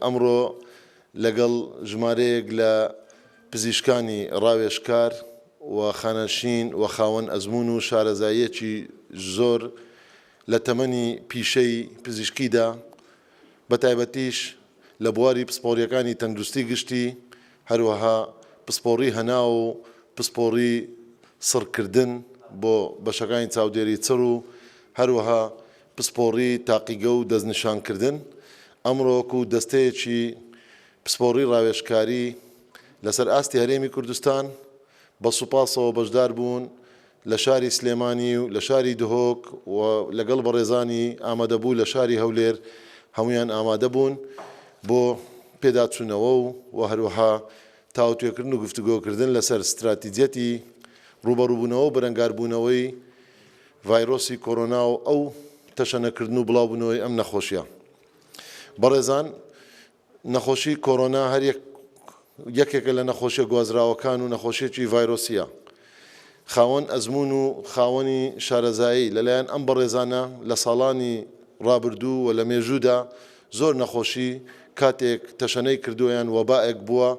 ئەمڕۆ لەگەڵ ژمارەیەک لە پزیشکانی ڕاوێژکار و خانەنشین و خاوەن ئەزموون و شارەزاییەکی زۆر لە تەمەنی پیشەی پزیشکیدا، بە تایبەتیش لە بواری پسپۆڕییەکانی تەندروستی گشتی، هەروەها پسپۆڕی هەناو و پسپۆڕی سڕکردن بۆ بەشەکانی چاودێری چڕ و هەروەها پسپۆڕی تاقیگە و دەستنیشانکردن، ئەمڕۆ وەکو دەستەیەکی پسپۆڕی ڕاوێژکاری لەسەر ئاستی هەرێمی کوردستان بە سوپاسەوە بەشداربوون لە شاری سلێمانی و لە شاری دهۆک و لەگەڵ بەڕێزانی ئامادەبوو لە شاری هەولێر هەموویان ئامادەبوون بۆ پێداچوونەوە و هەروەها تاوتوێکردن و گفتوگۆکردن لەسەر ستراتیجیەتی ڕووبەڕووبوونەوە و بەرەنگاربوونەوەی ڤایرۆسی کۆرۆنا و ئەو تەشەنەکردن و بڵاوبوونەوەی ئەم نەخۆشیە. بەڕێزان نەخۆشی کۆرۆنا هەر یەک یەکێکە لە نەخۆشیە گوازراوەکان و نەخۆشیەکی ڤایرۆسیە خاوەن ئەزموون و خاوەنی شارەزایی لەلایەن ئەم بەڕێزانە لە ساڵانی ڕابردوو و لە مێژوودا زۆر نەخۆشی کاتێک تەشەنەی کردووەیان وەبائێک بووە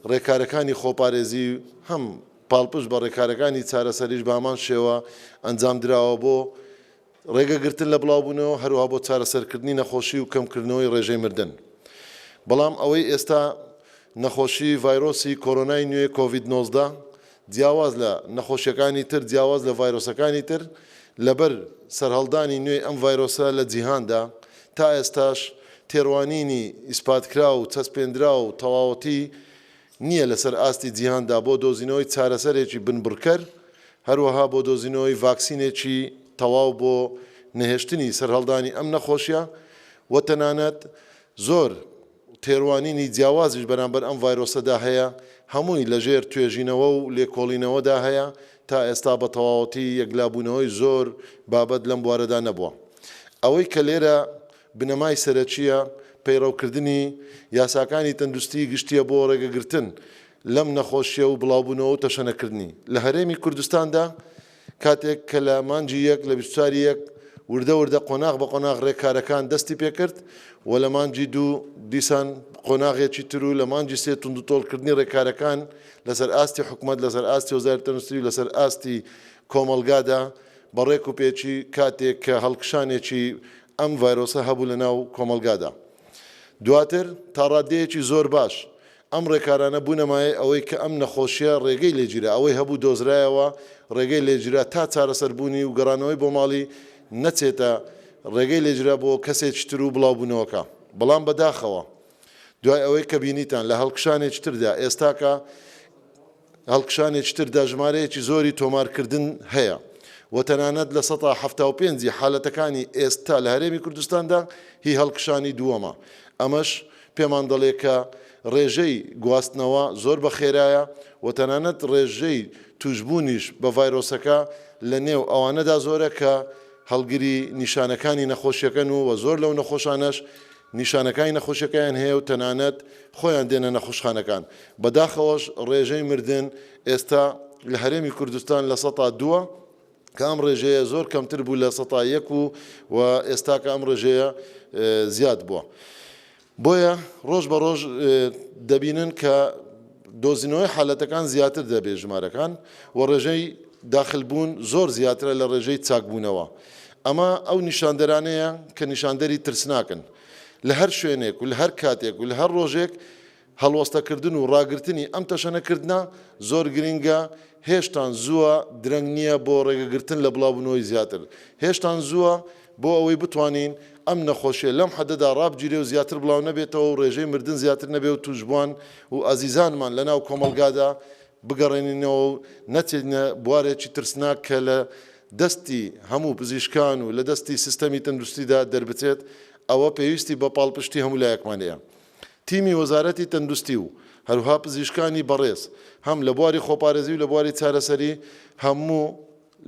ڕێکارەکانی خۆپارێزی هەم پاڵپشت بە ڕێکارەکانی چارەسەریش بە هەمان شێوە ئەنجامدراوە بۆ ڕێگەگرتن لە بڵاوبوونەوە هەروەها بۆ چارەسەرکردنی نەخۆشی و کەمکردنەوەی ڕێژەی مردن بەڵام ئەوەی ئێستا نەخۆشی ڤایرۆسی کۆرۆنای نوێ کۆڤید نۆزدە جیاواز لە نەخۆشیەکانی تر جیاواز لە ڤایرۆسەکانی تر لەبەر سەرهەڵدانی نوێی ئەم ڤایرۆسە لە جیهاندا تا ئێستاش تێڕوانینی ئیسپاتکراو و چەسپێنراو و تەواوەتی نییە لەسەر ئاستی جیهاندا بۆ دۆزینەوەی چارەسەرێکی بنبڕکەر، هەروەها بۆ دۆزینەوەی ڤاکسینێکی تەواو بۆ نەهێشتنی سەرهەڵدانی ئەم نەخۆشییە و تەنانەت زۆر تێڕوانینی جیاوازیش بەرامبەر ئەم ڤایرۆسەدا هەیە، هەمووی لەژێر توێژینەوە و لێکۆڵینەوەدا هەیە، تا ئێستا بە تەواوەتی یەکلابوونەوەی زۆر بابەت لەم بوارەدا نەبووە. ئەوەی کە لێرە بنەمای سەرەکییە پەیڕەوکردنی یاساکانی تەندوستیی گشتییە بۆ ڕێگەگرتن لەم نەخۆشییە و بڵاوبوونەوە و تەشەنەکردنی لە هەرێمی کوردستاندا، کاتێک کە لە مانگی یەک لە بیست و چوار ی یەک وردە وردە قۆناغ بە قۆناغ ڕێکارەکان دەستی پێکرد و لە مانگی دوو دیسان قۆناغێکی تر و لە مانگی سێ توندوتۆڵکردنی ڕێکارەکان لەسەر ئاستی حکومەت لەسەر ئاستی وەزاری تەندوستی و لەسەر ئاستی کۆمەڵگادا بە ڕێک و پێکی کاتێک کە هەڵکشانێکی ئەم ڤایرۆسە هەبوو لە ناو کۆمەڵگادا. دواتر تا ڕاددەیەکی زۆر باش ئەم ڕێکارانە بوونە مایەی ئەوەی کە ئەم نەخۆشییە ڕێگەی لێگیرا، ئەوەی هەبوو دۆزرایەوە ڕێگەی لێگیرا تا چارەسەر بوونی و گەڕانەوەی بۆ ماڵی نەچێتە ڕێگەی لێگیرا بۆ کەسێکی تر و بڵاوبوونەوەکە بەڵام بەداخەوە دوای ئەوەی کە بینیتان لە هەڵکشانێکی تردا ئێستاکە هەڵکشانێکی تردا ژمارەیەکی زۆری تۆمارکردن هەیە و تەنانەت لە سەتا حەفتا و پێنج ی حالەتەکانی ئێستا لە هەرێمی کوردستاندا هی هەڵکشانی دووەمە ئەمەش پێمان دەڵێ کە ڕێژەی گواستنەوە زۆر بە خێرایە و تەنانەت ڕێژەی توشبوونیش بە ڤایرۆسەکە لە نێو ئەوانەدا زۆرە کە هەڵگری نیشانەکانی نەخۆشیەکەن و و زۆر لەو نەخۆشانەش نیشانەکانی نەخۆشیەکەیان هەیە و تەنانەت خۆیان دێنە نەخوشخانەکان بەداخەوەش ڕێژەی مردن ئێستا لە هەرێمی کوردستان لە سەتا دووە کە ئەم ڕێژەیە زۆر کەمتر بوو لە سەتا یەک و و ئێستاکە ئەم ڕێژەیە زیاد بووە بۆیە ڕۆژ بە ڕۆژ دەبینن کە دۆزینەوەی حالەتەکان زیاتر دەبێت ژمارەکان و ڕێژەی داخلبوون زۆر زیاترە لە ڕێژەی چاکبوونەوە ئەمە ئەو نیشاندەرانەیە کە نیشاندەری ترسناکن. لە هەر شوێنێک و لە هەر کاتێک و لە هەر ڕۆژێک هەڵوەستەکردن و ڕاگرتنی ئەم تەشەنەکردنە زۆر گرنگە، هێشتان زووە، درەنگ نییە بۆ ڕێگەگرتن لە بڵاوبوونەوەی زیاتر، هێشتان زووە بۆ ئەوەی بتوانین ئەم نەخۆشییە لەم حەدەدا ڕابگیرێ و زیاتر بڵاونەبێتەوە و ڕێژەی مردن زیاتر نەبێ و تووشبووان و ئازیزانمان لەناو کۆمەڵگادا بگەڕێنینەوە و نەچێتە بوارێکی ترسناک کە لە دەستی هەموو پزیشکان و لە دەستی سیستەمی تەندوستیدا دەربچێت، ئەوە پێویستی بە پاڵپشتی هەموو لایەکمان هەیە. تیمی وەزارەتی تەندوستی و هەروها پزیشکانی بەڕێز هەم لە بواری خۆپارێزی و لە بواری چارەسەری هەموو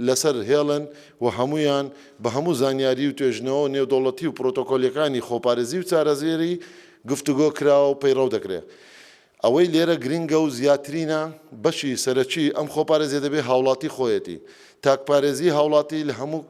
لەسەر هێڵن و هەموویان بە هەموو زانیاری و توێژینەوە نێودەوڵەتی و پرۆتۆکۆلیەکانی خۆپارێزی و چارەسەری گفتوگۆ کراوە و پەیڕەو دەکرێت. ئەوەی لێرە گرنگە و زیاترینە، بەشی سەرەکیی ئەم خۆپارێزییە دەبێ هاوڵاتی خۆیەتی. تاکپارێزیی هاوڵاتی لە هەموو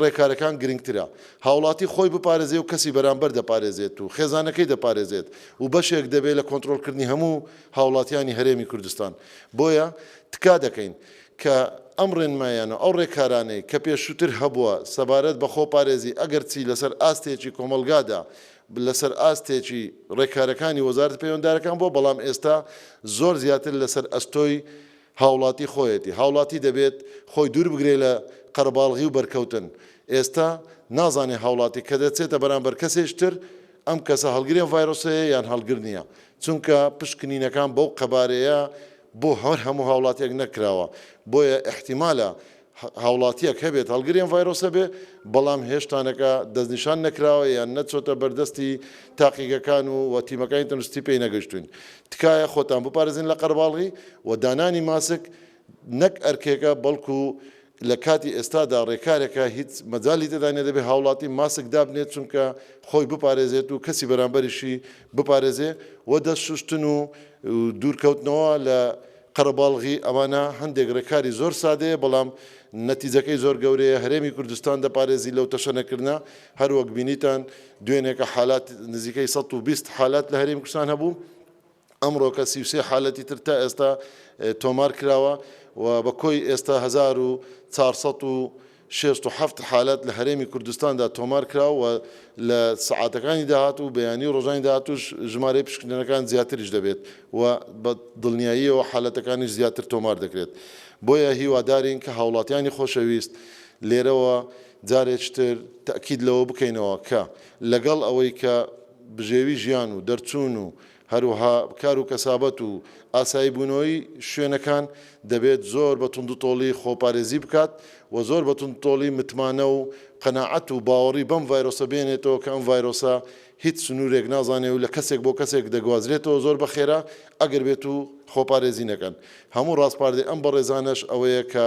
ڕێکارەکان گرنگترە. هاوڵاتی خۆی بپارێزێ و کەسی بەرانبەر دەپارێزێت و خێزانەکەی دەپارێزێت و بەشێک دەبێ لە کۆنترۆڵکردنی هەموو هاوڵاتییانی هەرێمی کوردستان. بۆیە تکا دەکەین کە ئەم ڕێنماییانە و ئەو ڕێکارانەی کە پێشووتر هەبووە سەبارەت بە خۆپارێزی ئەگەرچی لەسەر ئاستێکی کۆمەڵگادا لەسەر ئاستێکی ڕێکارەکانی وەزارەتە پەیوەندارەکان بووە، بەڵام ئێستا زۆر زیاتر لەسەر ئەستۆی هاوڵاتی خۆیەتی، هاوڵاتی دەبێت خۆی دوور بگرێت لە قەرەباڵغی و بەرکەوتن، ئێستا نازانێت هاوڵاتی کە دەچێتە بەرامبەر کەسێکی تر ئەم کەسە هەڵگری ئەم ڤایرۆسەیە یان هەڵگر نییە، چونکە پشکنینەکان بەو قەبارەیە بۆ هەر هەموو هاوڵاتییەک نەکراوە، بۆیە ئیحتیمالە هاوڵاتییەک هەبێت هەڵگری ئەم ڤایرۆسە بێ، بەڵام هێشتانەکە دەستنیشان نەکراوە یان نەچۆتە بەردەستی تاقیگەکان و و تیمەکانی تەندروستی پێی نەگەشتووین. تکایە خۆتان بپارێزن لە قەرباڵغی و دانانی ماسک نەک ئەرکێکە بەڵکو لە کاتی ئێستادا رێکارێکە هیچ مەجالی تێدا نیە دەبێت هاوڵاتی ماسک دابنێت چونکە خۆی بپارێزێت و کەسی بەرامبەریشی بپارێزێ و دەست شوشتن و دوورکەوتنەوە لە قەرەباڵغی ئەمانە هەندێک ڕێکاری زۆر سادەیە بەڵام نەتیجەکەی زۆر گەورەیە، هەرێمی کوردستان دەپارێزی لەو تەشەنەکردنە، هەروەک بینیتان دوێنێکە حالات نزیکەی سەد و بیست حالات لە هەرێمی کوردستان هەبوو، ئەمڕۆکە سی و سێ حالەتی تر تا ئێستا تۆمار کراوە و بە کۆی ئێستا هەزار و چوار سەد و شەست و حەفت حالەت لە هەرێمی کوردستاندا تۆمار کرا و لە سەعاتەکانی داهاتوو و بەیانی و ڕۆژانی داهاتووش ژمارەی پشکنینەکان زیاتریش دەبێت و بە دڵنیاییەوە حالەتەکانیش زیاتر تۆمار دەکرێت بۆیە هیوادارین کە هاوڵاتیانی خۆشەویست لێرەوە جارێک تر تەئکید لەوە بکەینەوە کە لەگەڵ ئەوەی کە بژێوی ژیان و دەرچوون و هەروەها کار و کەسابەت و ئاساییبوونەوەی شوێنەکان دەبێت زۆر بە توندوتۆڵی خۆپارێزی بکات و زۆر بە توندوتۆڵی متمانە و قەناعەت و باوەڕی بەم ڤایرۆسە بێنێتەوە کە ئەم ڤایرۆسە هیچ سنوورێک نازانێ و لە کەسێک بۆ کەسێک دەگوازرێتەوە زۆر بە خێرا ئەگەر بێتوو خۆپارێزی نەکەن هەموو ڕاسپاردەی ئەم بەڕێزانەش ئەوەیە کە